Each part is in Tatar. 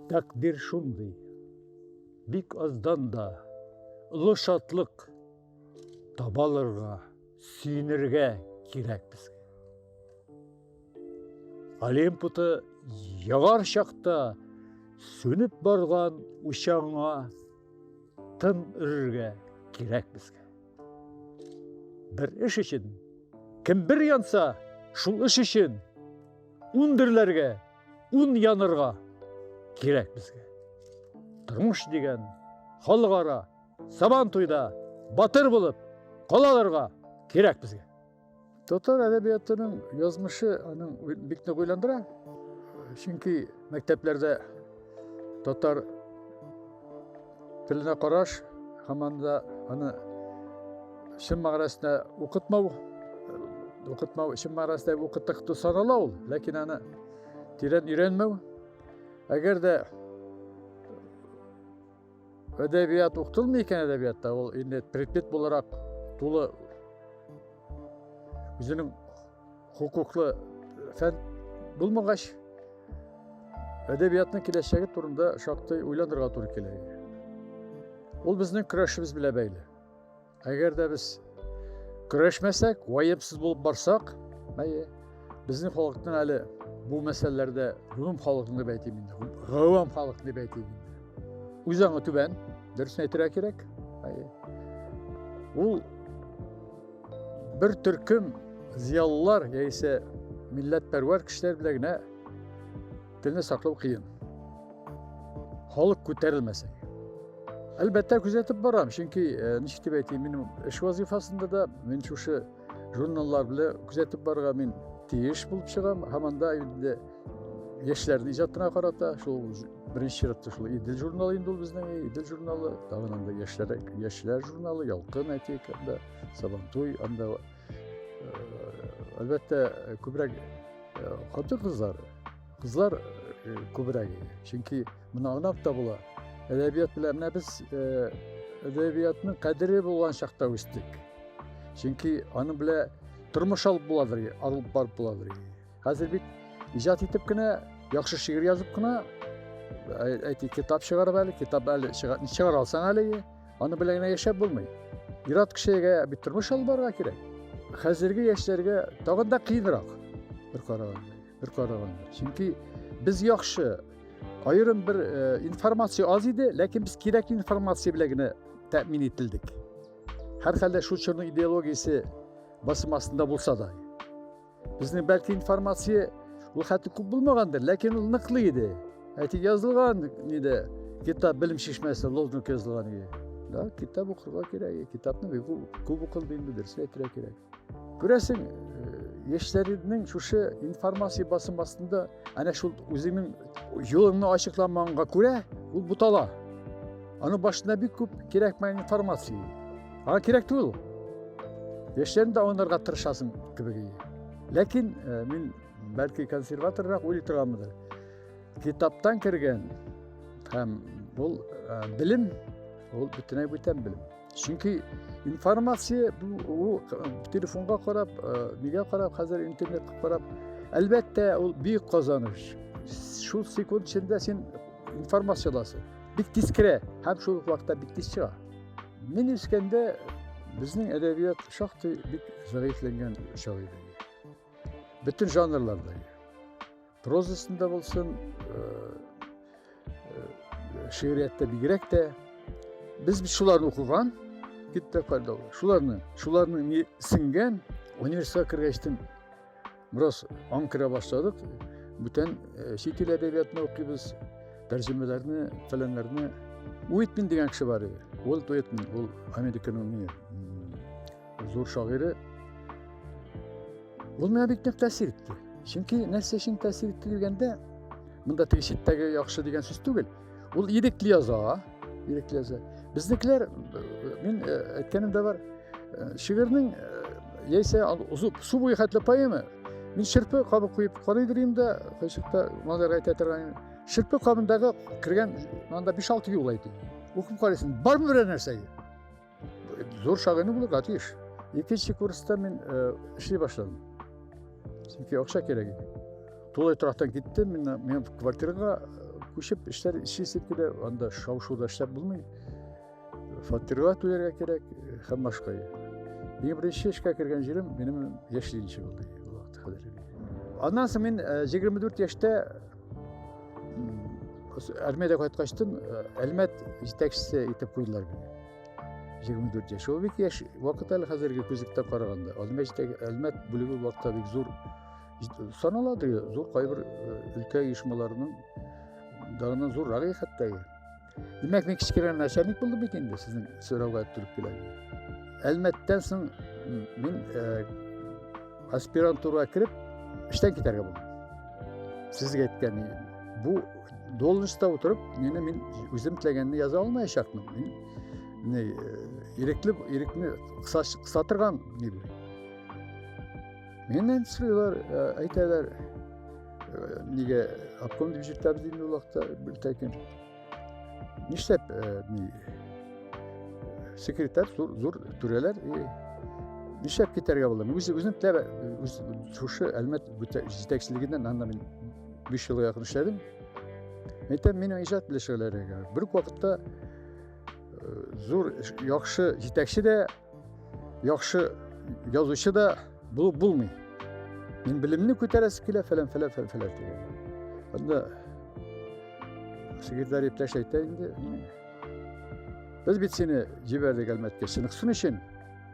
Тәкъдир шундый, бик аздан да олы шатлык табалырга, сөенергә кирәк безгә. Олимпуты ягар чакта сүнеп барган учаңа тын өрергә кирәк безгә. Бер эш өчен кем бер янса, шул эш өчен ундерләргә Ун янырга кирәк безгә. Тормыш дигән халыкара сабан туйда батыр булып калаларга кирәк безгә. Татар әдәбиятының язмышы аның бик нык уйландыра. Чөнки мәктәпләрдә татар Теленә караш, һаман да аны чын мәгънәсендә укытмау, укытмау чын мәгънәсендә укыттык дип санала ул, ләкин аны тирән өйрәнмәү. Әгәр дә әдәбият укытылмый икән әдәбиятта, ул инде предмет буларак тулы үзенең Хокуклы фән булмагач, әдәбиятның киләчәге турында шактый уйланырга туры килә. Ул безнең көрәшебез белән бәйле. Әгәр дә без көрәшмәсәк, ваемсыз булып барсак, әйе, безнең халыкның әле бу мәсьәләләрдә гомум халыкны дип әйтим инде. Гавам халык дип әйтим инде. Үз аңы түбән, дөресен әйтергә кирәк. Әйе. Ул Бер төркем зиялылар яисә милләтпәрвәр кешеләр белән генә телне саклау кыен. Халык күтәрелмәсә. Әлбәттә күзәтеп барам, чөнки э, ничек дип әйтим, минем эш вазифасында да мин шушы журналлар белән күзәтеп барырга мин тиеш булып чыгам һәм анда инде яшьләрнең иҗатына карата шул Беренче чиратта шул Идел журналы инде ул безнең Идел журналы, тагын анда яшьләр яшьләр журналы, Ялкын әтик анда, Сабантуй анда. Әлбәттә, күбрәк хатын-кызлар, кызлар күбрәк. Чөнки моны аңлап та була. Әдәбият белән менә без әдәбиятның кадере булган чакта үстек. Чөнки аны белән тормыш алып буладыр, алып барып буладыр. Хәзер бит иҗат итеп кенә, яхшы шигырь язып кына, әйти китап чыгарып әле, китап әле чыгар алсаң әле, аны белән генә яшәп булмый. Ират кешегә бит тормыш алып барырга кирәк. Хәзерге яшьләргә тагын да кыенрак бер караганда, бер караганда. Чөнки без яхшы аерым бер э, информация аз иде, ләкин без кирәк информация белән генә тәэмин ителдек. Һәрхәлдә шул чорның идеологиясе басым астында булса да. Безнең бәлки информация ул хәтта күп булмагандыр, ләкин ул ныклы иде. Әти язылган иде, китап белем шишмәсе лозунг язылган иде. Да, китап укырга кирәк, китапны бик күп укыл инде, дөресен әйтергә кирәк. Күрәсең, э, яшьләрнең шушы информация басым астында Әнә шул үзеңнең юлыңны ачыкламаганга күрә, ул бутала. Аның башына бик күп кирәкмәгән информация. Аңа кирәк түгел. Яшьләрен дә аңларга тырышасың кебек. Ләкин э, мин бәлки консерваторрак уйлый торганмындыр. Китаптан кергән һәм бул э, белем, ул бөтенләй бүтән белем. чөнки информация ул телефонга карап нигә карап хәзер интернетка карап әлбәттә ул бик казаныш шул секунд эчендә син информация аласың бик тиз керә һәм шул ук вакытта бик тиз чыга мин үскәндә безнең әдәбият шактый бик зәгыйфьләнгән чагы иде бөтен жанрларда прозасында булсын шигъриятта бигрәк тә без шуларны укыган китапларда шуларны шуларны сеңгән университетка кергәчтен бераз аң керә башладык бүтән чит ил әдәбиятын укыйбыз тәрҗемәләрне фәләннәрне уитмин дигән кеше бар иде ул уитмин ул американың зур шагыйре Ул миңа бик нык тәэсир итте. Чөнки нәрсә өчен тәэсир итте дигәндә, монда теге читтәге яхшы дигән сүз түгел. Ул ирекле яза, ирекле яза. Безнекеләр, мин әйткәнем дә бар, шигырьнең яисә су буе хәтле поэма, мин шырпы кабы куеп карый дөрим дә, кайчакта малайларга әйтә торган, шырпы кабындагы кергән, монда 5-6 юл әйтә. Укып карыйсың, бармы берәр нәрсәгә? зур шагыйрь булырга тиеш икенче курста мин э, эшли башладым чөнки акча кирәк иде тулай торактан киттем мин мен квартирага э, күчеп эшләр эшлисең килә анда шау шуда эшләп булмый фатирга түләргә кирәк э, һәм башка иң беренче эшкә кергән җирем минем яшьлегенче булды аннан соң мин егерме дүрт яшьтә армияда кайткачтын э, әлмәт җитәкчесе итеп куйдылар мине егерме дүрт яшь ул бик яшь вакыт әле хәзерге күзлектә караганда әлмәт бүлеге вакытта бик зур саналады зур кайбер э, өлкә оешмаларының дагынан зуррагы хәтта Димәк, мин кечкенә начальник булдым бит инде, сезнең сорауга төреп килә. Әлмәттән соң мин э, аспирантурага кереп, эштән китәргә булдым. Сезгә әйткән бу должностьта утырып, мені мин үзем теләгәнне яза алмаячакмын. Мин не э, ирекле ирекне кыса, кыса торган не Менен сыйлар әйтәләр, нигә обком дип җиртәбез инде ул вакытта бер тәкин. Нишләп ни секретарь зур зур түрәләр и нишләп китәргә була? Үзе үзем тәбә үз шушы Әлмәт җитәкчелегеннән анда мин 5 елга якын эшләдем. Әйтәм, минем иҗат белешәләргә. Бер вакытта зур яхшы җитәкче дә Яхшы язучы да булып булмый. Мин белемне күтәрәсе килә, фәлән, фәлән, фәлән, фәлән дигән. Анда секретарь иптәш әйтә инде. Без бит сине җибәрдек әлмәткә сыныгсын өчен.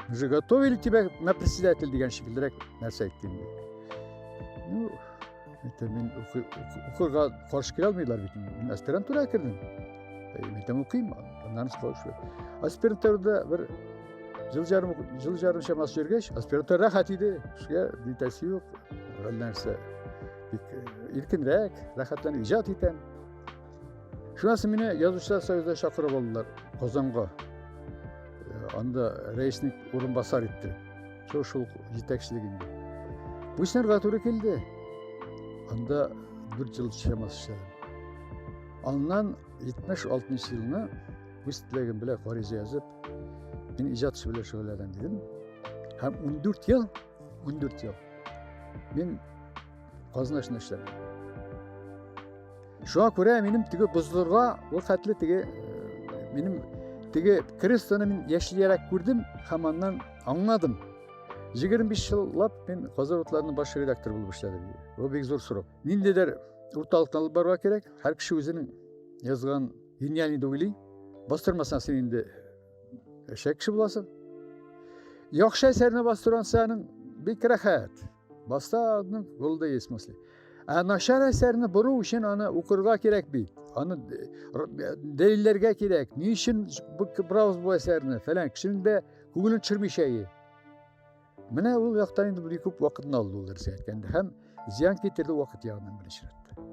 Уже готовили тебя на председатель дигән шикеллерәк нәрсә әйтте инде. Ну, Мәктәп мин укырга каршы килә алмыйлар бит. Мин аспирантура кердем. Мәктәп укыйм, аннан шулай шулай. Аспирантурада бер жыл жарым жыл жарым чамасы йөргәч, аспирантура рәхәт иде. Шуга битәсе юк. Нәрсә? Бик иркенрәк, рәхәтләнеп иҗат итәм. Шунысы мине язучылар союзына чакырып алдылар Казанга. Э, анда рәисник урынбасар итте. Шул шул җитәкчелегендә. Бу эшләргә туры килде. Анда 4 ел чамасы эшләдем. Аннан 76 елына үз теләгем белән гариза язып, мин иҗат белән шөгыльләнәм дидем. Һәм 14 ел 14 ел. Мин казна эшендә эшләдем. Шуңа күрә минем теге бозлырга ул хәтле теге э, минем теге крестоны мин яшьлерәк күрдем һәм аннан аңладым. 25 еллап мин Казан утларының баш редакторы булып эшләдем. Бу бик зур срок. Ниндидер урталыктан алып барырга кирәк. Һәр кеше үзенең язган гениальный дип бастырмасаң син инде Әшәк кеше буласың. Яхшы әсәрне бастырган сәнең бик рәхәт. Баста аның булды исмасли. Ә начар әсәрне бору өчен аны укырга кирәк бит. Аны дәлилләргә кирәк. Ни өчен бу кибрауз бу әсәрне? Фәлән кешенең дә күңелен төшермичә Менә ул яктан инде бик күп вакытны алды ул нәрсә әйткәндә һәм зыян китерде вакыт ягыннан беренче рәттә.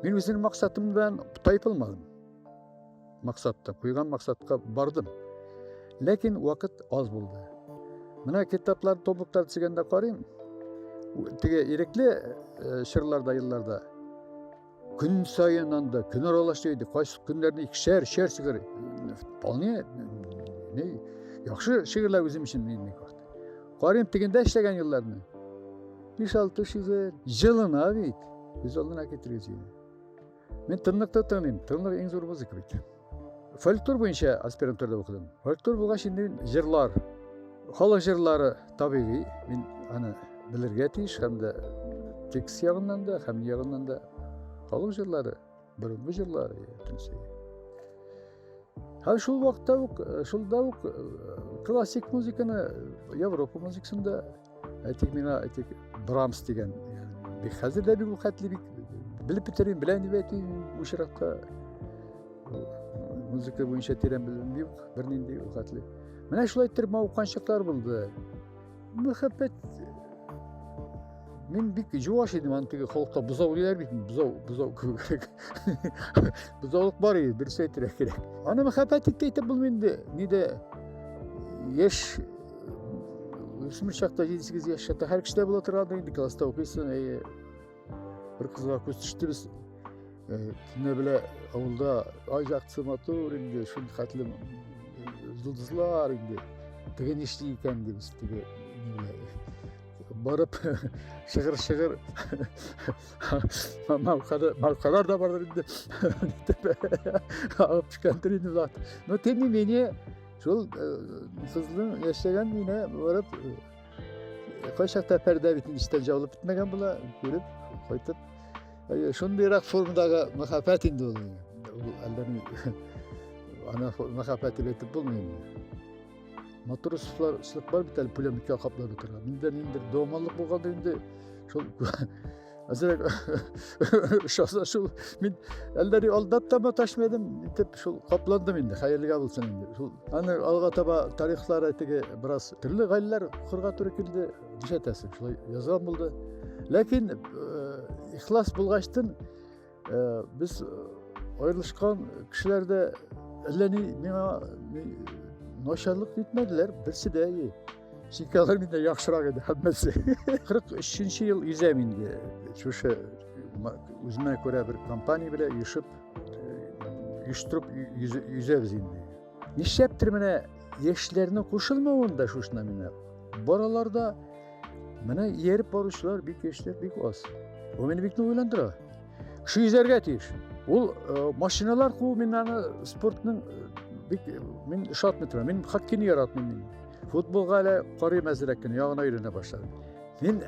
Мин үзем максатымдан тайпылмадым. Максатта, куйган максатка бардым. Ләкин вакыт аз булды. Менә китаплар, томлыклар төзегәндә карыйм, теге ирекле чырларда, елларда Көн сайын анда, көн аралаш иде, кайсы көннәрне икешәр, шәр шигырь. Вполне, не, яхшы шигырьләр үзем өчен мин Карыйм тегендә эшләгән елларны. Биш алты шигырь, җылына бит. Без алдына китерегез. Мин тынлыкта тыңлыйм, тынлык иң зур музыка бит. фольклор буенча аспирантурада укыдым фольклор булгач инде җырлар халык җырлары табигый мин аны белергә тиеш һәм дә текст ягыннан да һәм ягыннан да халык җырлары борынгы җырлар һәм шул вакытта ук шулда ук классик музыканы европа музыкасын да Әйтик мина, әйтик Брамс дигән. Бик хәзер дә бик хәтле бик белеп бетерим, белән дип әйтим, очракта музыка буенча тирән белем юк, бернинди хәтле. Менә шулай иттереп мавыккан чаклар булды. Мәхәббәт Мин бик җуаш идем, аны теге халыкта бозау диләр бит, бозау, бозау кебек. Бозаулык бар иде, дөрес әйтергә кирәк. Аны мәхәббәт итеп әйтеп булмый инде. Ни дә яшь шул чакта җиде сигез яшь чакта һәр кешедә була тора инде класста укыйсың әйе бер кызга күз төште без төнлә белә авылда ай яктысы матур инде шул хәтле йолдызлар инде теге нишли икән дибез теге барып шыгыр шыгыр малкалар да бардыр инде агып төшкәндер инде но тем не менее Шул э, сызлың яшәгән мине барып кайчакта пәрдә бит истә җавылып бетмәгән була, күреп, кайтып. Шундыйрак формадагы мәхәббәт инде ул. Әллә ни ана мәхәббәт дип әйтеп булмый инде. Матур сүзләр сүзләр бит әле пулеметка каплап утыра. Миндә ниндер домалык булган инде. Шул Әзрәк шаса шул мин әлләри алда да маташмы идем итеп шул капландым инде хәерлегә булсын инде шул аны алга таба тарихлар теге бераз төрле гаиләләр кырга туры килде нишәтәсең шулай язган булды ләкин э, ихлас булгачтын Э, без э, аерылышкан кешеләр дә әллә ни миңа начарлык итмәделәр, берсе дә әйе. Чөнки алар миндә яхшырак иде һәммәсе. 43-нче ел изәм инде. Шушы үземә күрә бер компания белән оешып, оештырып йөзәбез инде. Нишләптер менә яшьләрнең кушылмавын да шушына мина. Бараларда менә ияреп баручылар бик яшьләр бик аз. Бу мине бик уйландыра. Кеше йөзәргә тиеш. Ул э, машиналар куу мин аны спортның э, бик э, мин ошатмый торам. Мин хоккейны яратмыйм мин. Футболга әле карыйм әзрәк кенә, ягына өйрәнә башладым. Мин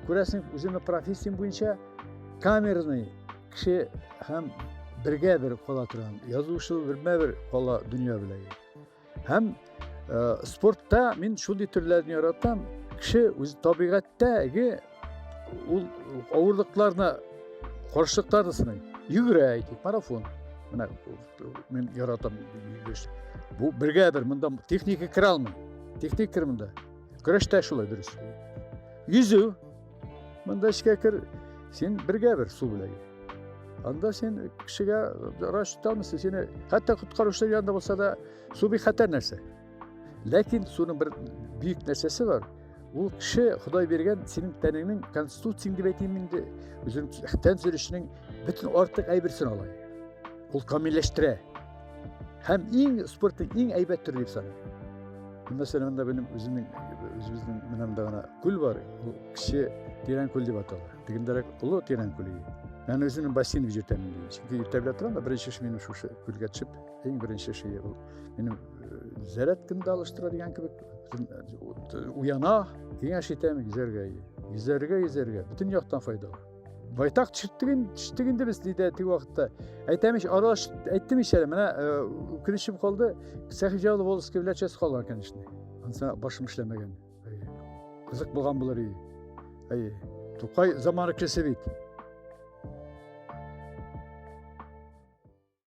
күрәсең, үземнең профессиям буенча камерный Кеше һәм бергә бер кала торган язучы бермә бер кала дөнья белән. Һәм э, спортта мин шундый төрләрне яратам. Кеше үз табигатьтәге ул авырлыкларны каршылыкларны сыный. Йөгерә әйтик, марафон. Менә мин яратам йөгереш. Бу бергә бер монда техника керә алмый. Техника керә монда. Көрәштә шулай дөрес. Йөзү Монда эчкә кер, син бергә бер су белән анда сен кешегә врач тота алмыйсың сине хәтта коткаручылар янында булса да су бик хәтәр нәрсә ләкин суның бер бөек нәрсәсе бар ул кеше ходай биргән синең тәнеңнең конституцияң дип әйтим инде үзенең тән төзелешенең бөтен артык әйберсен ала ул камилләштерә Һәм иң спортның иң әйбәт төре дип саныйм. Мәсәлән, монда минем үземнең үзебезнең менә монда гына күл бар. Ул кече тирән күл дип атала. Тегендәрәк олы тирән күл. Мен үземнең бассейн җитәм. Чөнки иртә белән торам да беренче эш минем шушы күлгә төшеп, иң беренче эш ул минем заряд кемдә алыштыра дигән кебек уяна, киңәш итәм, йөзәргә. Йөзәргә, йөзәргә. Бөтен яктан файдалы. байтак төшеттеген төшеттек инде без диде теге вакытта әйтәм ич аралаш әйттем ич әле менә үкенечем калды сәхи җавлы волоски белән часть калган конечно анысына башым эшләмәгән кызык булган булыр и әй тукай заманы кеше бит